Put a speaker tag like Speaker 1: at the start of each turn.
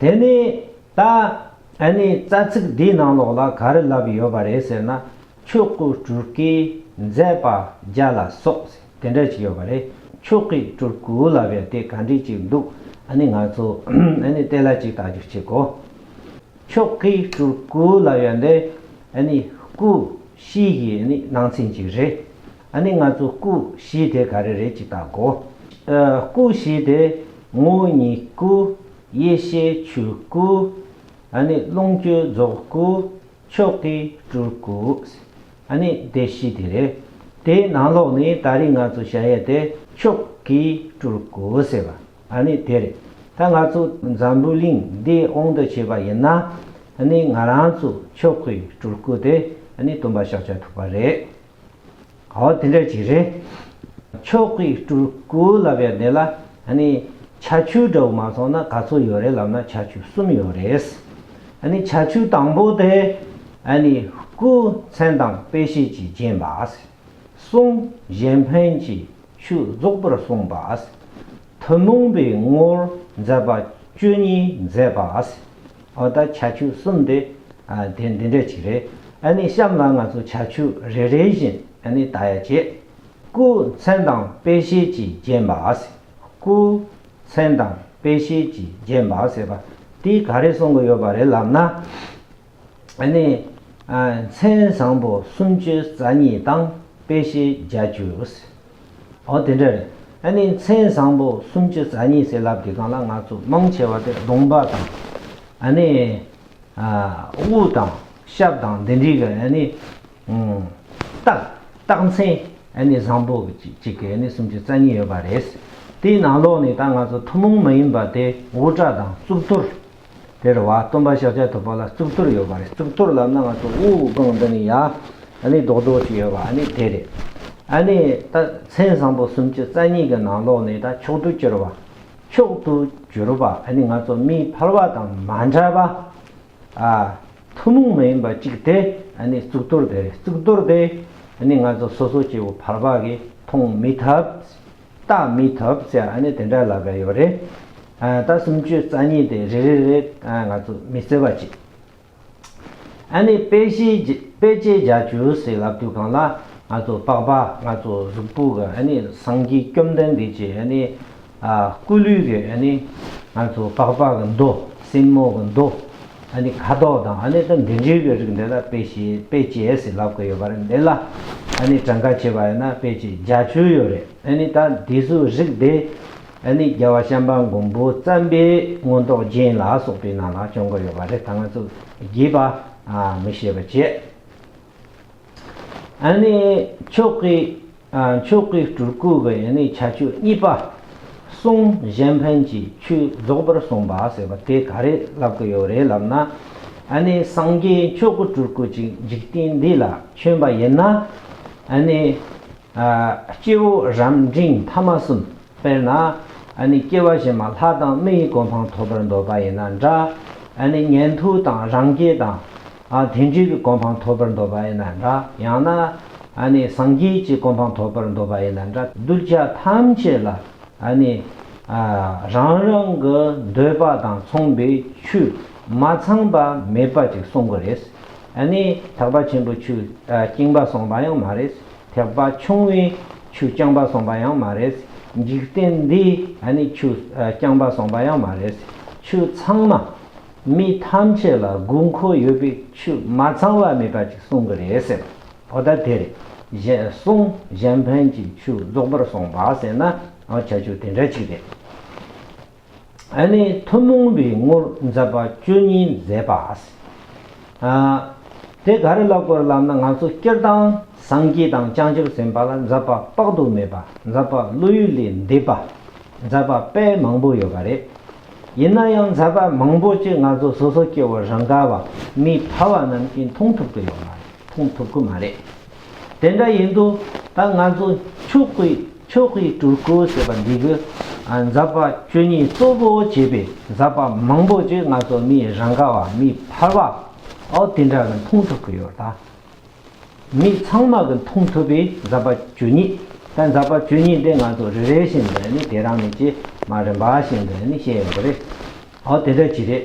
Speaker 1: དེ་ནས་ད་ཨ་ནི་རྩ་ཚིག་འདིའི་ནང་ལོགས་ལ་ག་རེ་ལབ་ཡོད་པ་རེད་ཟེར་ན་ཆོས་སྐུ་སྤྲུལ་སྐུའི་མཛད་པ་བརྒྱ་ལ་སོགས་ཟེར་དེ་འདྲ་ཅིག་ཡོད་པ་རེད་ཆོས་སྐུའི་སྤྲུལ་སྐུ་ལབ་ཡོད་དེ་ག་འདྲི་ཅིག་འདུག་ཨ་ནི་ང་ཚོ་ཨ་ནི་དེ་ལ་ཅིག་བལྟ་རྒྱུ་གཅིག་གོ། ཆོས་སྐུའི་སྤྲུལ་སྐུ་ལབ་ཡོད་འདི་ཨ་ནི་སྐུ་གཤིས་ཀྱི་ནང་ཚན་ཅིག་རེད། ཨ་ནི་ང་ཚོ་སྐུ་བཞི་དེ་ག་རེ་རེད་ཅིག་བལྟ་དགོ། སྐུ་བཞི་དེ། ངུ་གཉིད་སྐུ། ཡེ་ཤེས་ཆོས་སྐུ། ཨ་ནི་རླུང་སྐྱོད་རྫོགས་སྐུ། ཕྱོགས་ཀྱི་སྤྲུལ་སྐུ། ཨ་ནི་སྡེ་བཞི་དེ་རེད། དེའི་ནང་ལོགས་ནི་ད་རིས་ང་ཚོ་བྱ་ཡས་དེ་ཕྱོགས་ཀྱི་སྤྲུལ་སྐུ་ཟེར་བ་ཨ་ནི་དེ་རེད། ད་ང་ཚོ་འཛམ་བུའི་གླིང་འདི་དབང་དུ་བྱེད་པ་ཡིན་ན། ཨ་ནི་ང་རང་ཚོ་ཕྱོགས་ཀྱི་སྤྲུལ་སྐུ་དེ་ཨ་ནི་སྟོན་པ་ཤཱཀྱ་ཐུབ་པ་རེད། འོ་དེ་འདྲ་ཅིག་རེད། ཆོས་སྐུའི་སྤྲུལ་སྐུ་ལབ་ཡ་དེ་ལ་ཨ་ནི་ཆ་ཆུ་འདྲ་བོ་མ་ཚོགས་ན་ག་ཚོད་ཡོད་རེད་ལབ་ན་ཆ་ཆུ་གསུམ་ཡོད་རེད། ཨ་ནི་ཆ་ཆུ་དང་པོ་དེ་ཨ་ནི་སྐུ་མཚན་དང་དཔེ་བྱད་ཀྱིས་བརྒྱན་པ། གསུམ་གཞན་ཕན་གྱི་ཆུ་རྫོགས་པར་གསུངས་པ། ཐུན་མོང་པའི་ངོར་མཛད་པ་བཅུ་གཉིས་མཛད་པ། ཨོ་ད་བྱ་ཁྱུ་གསུམ་འདི་དེ་འདི་འདྲས་ཅིག་རེད་ཨ་ནི་གཤམ་ལ་ང་ཚོ་བྱ་ཁྱུ་རེ་རེ་བཞིན་ཨ་ནི་ད་ཡ་བྱེད། སྐུ་མཚན་དང་དཔེ་ཤེལ་གྱིས་བརྒྱན་པ་ཟེར། སྐུ་མཚན་དང་དཔེ་ཤེལ་གྱིས་བརྒྱན་པ་ཟེར་བ་འདི་ག་རེ་གསུང་གི་ཡོད་པ་རེད་ལབ་ན། ཨ་ནི། མཚན་བཟང་པོ་སུམ་ཅུ་རྩ་གཉིས་དང་དཔེ་ཤེལ་བརྒྱ་ཅུ། ཨོ་དེ་འདྲ་རེད། ཨ་ནི་མཚན་བཟང་པོ་སུམ་ཅུ་རྩ་གཉིས་ཟེར་ལབ་དེ་གང་ལ་ང་ཚོ་མང་ཆེ་བ་དེ་གདོང་འབག་དང། ཨ་ནི། དབུ་དང། ཞབས་དང་འདི་འདྲི་གི་ཨ་ནི། རྟགས་རྟགས་མཚན་ཨ་ནི་བཟང་པོ་གཅིག་གི་ཨ་ནི་སུམ་ཅུ་རྩ་གཉིས་ཡོད་པ་རེད། དེའི་ནང་ལོགས་ནས་ད་ང་ཚོ་ཐུན་མོང་མ་ཡིན་པ་དེ་དབུ་སྐྲ་དང་གཙུག་ཏོར། དེར་བ་སྟོན་པ་ཤཱཀྱ་ཐུབ་པ་ལ་གཙུག་ཏོར་ཡོད་པ་རེད་གཙུག་ཏོར་ལ་སྣང་བ་ཐོབ་དབུགས་ལྒང་འདི་ནས་ཡར་ཨ་ནི་རྡོག་རྡོག་ཅིག་ཡོད་པ་ཨ་ནི་དེ་རེད། ཨ་ནི་ད་མཚན་བཟང་པོ་གསུམ་གྱི་རྩ་གཉིས་ཀྱི་ནང་ལོགས་ནས་ད་མཆོག་ཏུ་གྱུར་པ། མཆོག་ཏུ་གྱུར་པ་ཨ་ནི་ང་ཚོ་མིའི་འཕར་བ་དང་མ་འདྲ་བ། ཨ་ཐུན་མོང་མ་ཡིན་པ་གཅིག་དེ་ཨ་ནི་གཙུག་ཏོར་དེ་རེད་གཙུག་ཏོར་དེ་ཨ་ནི་ང་ཚོ་སོ་སོ་སྐྱེ་བོ་འཕར་བ་གིས་མཐོང་མི་ཐུབ། རྟགས་མི་ཐོབ་ཟེར་ཨ་ནི་དེ་འདྲ་ལབ་པའི་ཡོད་རེད། རྟགས་སུམ་བཅུ་རྩ་གཉིས་དེ་རེ་རེ་རེ་ང་ཚོ་མི་བརྩེ་བ་གཅིག། ཨ་ནི་དཔེ་དཔེ་ཆའི་རྒྱ་ཇུ་ཟེར་ལབ་དུས་གང་ལ་ང་ཚོ་དཔག་པ་ང་ཚོ་གཟུགས་པོ་གི་ཨ་ནི་སངས་རྒྱས་བཅོམ་ལྡན་འདས་ཀྱི་ཨ་ནི་སྐུ་ལུས་ཀྱི་ཨ་ནི་ང་ཚོ་དཔག་པ་གི་མདོ་སེན་མོ་གི་མདོ། ད་ནི་ཁ་དོག་དང་ཨ་ནེ་དང་འབྲུ་འཇུ་བའི་རིགས་འདི་ལ་དཔེ་ཞེས་དཔེ་བྱད་ཟེར་ལབ་དགོས་ཡོད་པ་རེད་འདི་ལ་ཨ་ནེ་གྲངས་ཀ་བྱེད་པ་ཡོད་ན་དཔེ་བྱད་བརྒྱ་བཅུ་ཡོད་རེད་ཨ་ནེ་ད་དེ་ཚོའི་རིགས་དེ་ཨ་ནེ་རྒྱལ་བ་ཤམ་པ་མགོན་པོ་བརྩམས་པའི་མངོན་རྟོགས་རྒྱན་ལ་སོགས་པའི་ནང་ལ་བྱོན་དགོས་ཡོད་པ་རེད་ད་ང་ཚོ་བརྒྱད་པ་མི་ཤེས་པ་བྱེད། ཕྱོགས་ཀྱི་སྤྲུལ་སྐུ་གི་བྱ་སྤྱོད་གཉིས་པ། གསུང་གཞན་ཕན་གྱི་ཆོས་རྫོགས་པར་གསུངས་པ་ཟེར་བ་དེ་ག་རེ་ལབ་ཀྱི་ཡོད་རེད་ལབ་ན། སངས་རྒྱས་མཆོག་གི་སྤྲུལ་སྐུ་ཅིག་འཇིག་རྟེན་འདི་ལ་བྱོན་པ་ཡིན་ན། སྐྱེ་བོ་རབ་འབྲིང་ཐ་མ་གསུམ་དཔེར་ན། སྐྱེ་བ་བཞིན་མ་ལྷ་དང་མི་ཡི་གོ་འཕང་ཐོབ་པར་འདོད་པ་ཡིན་ན་འདྲ། ཉན་ཐོས་དང་རང་རྒྱལ་དང་དེ་འདྲའི་གི་གོ་འཕང་ཐོབ་པར་འདོད་པ་ཡིན་ན་འདྲ། ཡང་ན། སངས་རྒྱས་ཀྱི་གོ་འཕང་ཐོབ་པར་འདོད་པ་ཡིན་ན་འདྲ། གདུལ་བྱ་ཐམས་ཅད་ལ། རང་རང་གི་འདོད་པ་དང་མཚུངས་པའི་ཆོས་མ་ཚང་པ་མེད་པ་ཅིག་གསུང་གི་རེད། ཐེག་པ་ཆེན་པོའི་ཆོས་རྐྱེན་པ་གསུངས་པ་ཡང་མ་རེད། ཐེག་པ་ཆུང་བའི་ཆོས་རྐྱང་པ་གསུངས་པ་ཡང་མ་རེད། འཇིག་རྟེན་འདིའི་ཆོས་རྐྱང་པ་གསུངས་པ་ཡང་མ་རེད། ཆོས་ཚང་མ། མི་ཐམས་ཅད་ལ་དགུ་མཁོ་ཡོད་པའི་ཆུ་མ་ཚང་བ་མེད་པ་ཅིག་གསུང་གི་རེད་ཟེར། བོ་ད་དེ་རེད། གཞན་གསུང་གཞན་ཕན་གྱི་ཆུ་རྫོགས་པར་སོང་བ་ཟེར་ན་འང་ཆ་ཆུ་དེ་འདྲ་ཅིག་རེད། ཨ་ནི་ཐུན་མོང་བའི་ངོར་མཛད་པ་བཅུ་གཉིས་མཛད་པ། ཨ། དེ་ག་རེ་ལ་སྐོར་ལབ་ན་ང་ཚོ་སྤྱིར་བཏང་སངས་རྒྱས་དང་བྱང་ཆུབ་སེམས་དཔའ་ལ་མཛད་པ་དཔག་ཏུ་མེད་པ་མཛད་པ་བློ་ཡུལ་ལས་འདས་པ་མཛད་པ་དཔེ་མང་པོ་ཡོད་པ་རེད། ཡིན་ན་ཡང་མཛད་པ་མང་པོ་ཅིག་ང་ཚོ་སོ་སོ་སྐྱེ་བོ་རང་ག་བ་མི་ཕལ་བ་རྣམས་ཀྱིས་མཐོང་ཐུབ་ཀྱི་ཡོད་མ་རེད་མཐོང་ཐུབ་ཀྱི་མ་རེད། དེ་འདྲ་ཡིན་དུས་ད་ང་ཚོ་ཕྱུག་པོའི་ཆོས་སྤེལ་སྤྲུལ་སྐུ་ཞེས་པ་འདི་གི་མཛད་པ་བཅུ་གཉིས་གཙོ་བོ་བྱས་པའི་མཛད་པ་མང་པོ་ཅིག་ང་ཚོ་མི་རང་ག་བ་མི་ཕལ་བ་འོ་དེ་འདྲ་གི་མཐོང་ཐུབ་ཀྱི་ཡོད་ད། མི་ཚང་མ་གི་མཐོང་ཐུབ་པའི་འཛབ་པ་ཇོ་ཉིད་དང་འཛབ་པ་ཇོ་ཉིད་དེ་ང་ཚོ་རེ་རེ་བཞིན་དུ་ནི་དེ་རང་ནི་ཅི་མ་རིན་པ་བཞིན་དུ་ནི་བཤད་ཡོང་གི་རེད། ཨོ་དེ་འདྲ་གྱི་རེད།